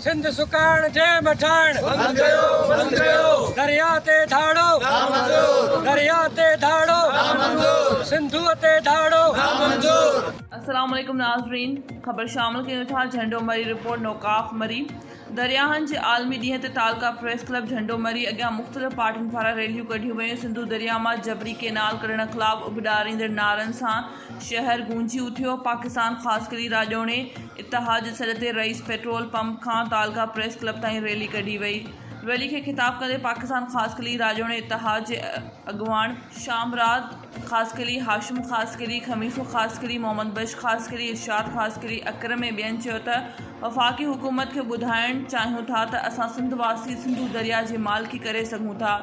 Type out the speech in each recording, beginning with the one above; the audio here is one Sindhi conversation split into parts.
سنڌ سڪاڻ جنهن مٺاڻ. بند ڪيو بند ڪيو. دريا تي ڌاڙو. نامنظور. دريا تي ڌاڙو. نامنظور. سنڌوء تي ڌاڙو. نامنظور. السلام عليڪم ناظرين خبر شامل ڪيون ٿا جهنڊو مري رپورٽ نوڪاف مري درياهن جي عالمي ڏينهن تي تعلقه پريس ڪلب جهنڊو مري اڳيان مختلف پارٽين پاران ريليون ڪڍيون ويون سنڌو درياهه مان جبري ڪينال ڪڍڻ خلاف اڀ ڏاريندڙ نعرن سان شهر گونجي اٿيو. پاڪستان خاص ڪري راڄوڻي اتحاد جي سڏ تي رئيس پيٽرول پمپ کان تعلقه پريس ڪلب تائين ريلي ڪڍي وئي. ريلي کي خطاب ڪندي پاڪستان خاص قلي راڄوڻي اتحاد جي اڳواڻ شامراد خاص قلي، هاشم خاص قلي، خميسو خاص قلي، محمد بخش خاص قلي، ارشاد خاص قلي، اڪرم ۽ ٻين چيو ته وفاقي حڪومت کي ٻڌائڻ چاهيون ٿا ته اسان سنڌ واسي سنڌو درياء جي مالڪي ڪري سگهون ٿا،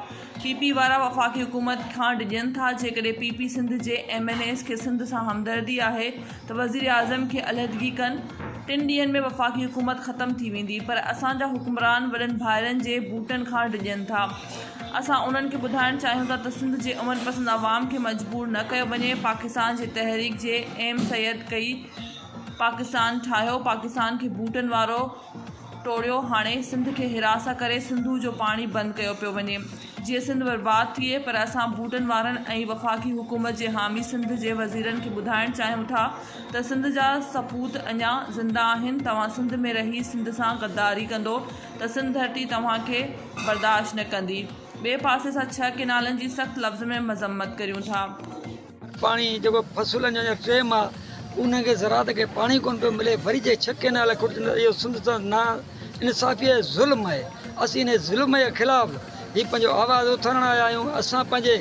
پي پي وارا وفاقي حڪومت کان ڊڄن ٿا، جيڪڏهن پي پي سنڌ جي ايم اين ايز کي سنڌ سان همدردي آهي ته وزيراعظم کي علحدگي ڪن، ٽن ڏينهن ۾ وفاقي حڪومت ختم ٿي ويندي، پر اسان جا حڪمران وڏن ڀائرن جي بوٽن کان ڊڄن ٿا، اسان انهن کي ٻڌائڻ چاهيون ٿا ته سنڌ جي امن پسند عوام کي مجبور نه ڪيو وڃي، پاڪستان جي تحريڪ جي ايم سيد ڪئي پاڪستان ٺاهيو، پاڪستان کي بوٽن وارو. ٽوڙيو هاڻي سنڌ کي هراسان ڪري سنڌو جو پاڻي بند ڪيو پيو وڃي جيئن سنڌ برباد ٿئي پر اسان ڀوٽن وارن ۽ وفاقي حڪومت جي حامي سنڌ جي وزيرن کي ٻڌائڻ چاهيون ٿا ته سنڌ جا سپوت اڃا زنده آهن توهان سنڌ ۾ رهي سنڌ سان غداري ڪندو ته سنڌ ڌرتي توهان کي برداشت نه ڪندي ٻئي پاسي اسان ڇهه ڪئنالن جي سخت لفظ ۾ مذمت ڪريون ٿا. پاڻي جيڪو فصلن جو ٽيم آ انهن کي زراعت کي پاڻي ڪون پيو ملي وري جي ڇهه ڪينال کٽجن ته اهو سنڌ سان نا انصافي ۽ ظلم آهي اسين انهي ظلم جي خلاف هي پنهنجو آواز اٿارڻ آيا آهيون اسان پنهنجي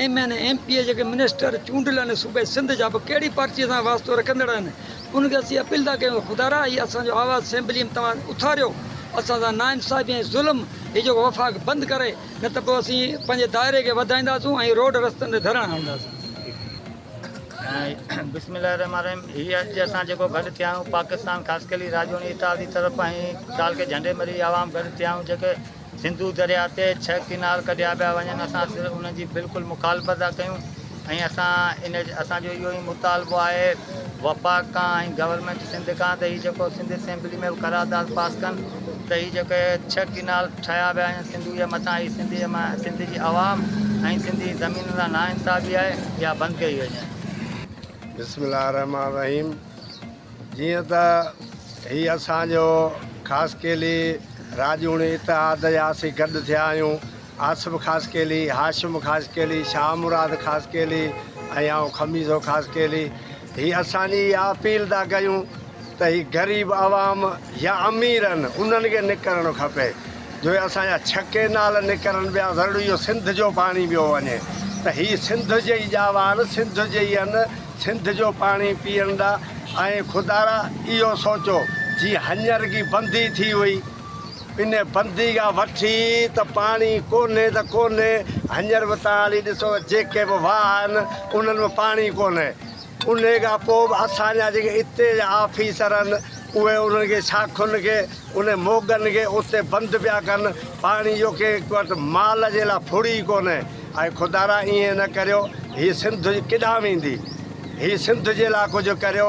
M N M P A جيڪي منسٽر چونڊيل آهن صوبي سنڌ جا به ڪهڙي پارٽي سان واسطو رکندڙ آهن انهن کي اسين اپيل ٿا ڪيون خدارا هي اسان جو آواز اسيمبلي ۾ توهان اٿاريو اسان سان نا انصافي ۽ ظلم هي جيڪو وفاق بند ڪري نه ته پوء اسين پنهنجي دائري کي وڌائينداسون ۽ روڊ رستن تي ڌرڻا هڻنداسون. بسم الله الرحمٰن الرحيم هي اڄ اسان جيڪو گڏ ٿيا آهيون پاڪستان خاص ڪلي راڄوڻي اتحادي طرف ۽ ٽال کي جهنڊي مري عوام گڏ ٿيا آهيون جيڪي سنڌو درياء تي ڇهه ڪينال ڪڍيا پيا وڃن اسان صرف انهن جي بلڪل مخالفت ٿا ڪيون ۽ اسان ان اسان جو اهو ئي مطالبو آهي وفاق کان ۽ گورنمينٽ سنڌ کان ته هي جيڪو سنڌ اسيمبلي ۾ به قرارداد پاس ڪن ته هي جيڪي ڇهه ڪينال ٺاهيا ويا آهن سنڌوء جي مٿان هي سنڌ جي مان سنڌ جي عوام ۽ سنڌ جي زمين سان ناانصافي آهي اها بند ڪئي وڃي. بسم الله الرحمٰن الرحيم جيئن ته هي اسان جو خاصخيلي راڄوڻي اتحاد جا اسين گڏ ٿيا آهيون آصف خاصخيلي، هاشم خاصخيلي، شاهه مراد خاصخيلي ۽ آئون خميسو خاصخيلي هي اسان جي اها اپيل ٿا ڪيون ته هي غريب عوام يا امير آهن انهن کي نڪرڻ کپي جو اسان جا ڇهه ڪينال نڪرن پيا ضروري اهو سنڌ جو پاڻي پيو وڃي ته هي سنڌ جي ئي ڄاوا آهن سنڌ جي ئي آهن سنڌ جو پاڻي پيئڻ ڏا ۽ خدارا اهو سوچو جي هڃر ڪي بندي ٿي هئي ان بندي کان وٺي ته پاڻي ڪونهي ته ڪونهي هڃر به تان هلي ڏسو ته جيڪي به واهه آهن انهن ۾ پاڻي ڪونهي انهي کان پوء به اسان جا جيڪي اتي جا آفيسر آهن اهي انهن کي شاخن کي انهن موڳن کي اتي بند پيا ڪن پاڻي جو ڪنهن هڪ وٽ مال جي لاء ڦڙ ئي ڪونهي اي خدا را ائين نه ڪريو هي سنڌ ڪيڏانهن ويندي هي سنڌ جي لاء ڪجهه ڪريو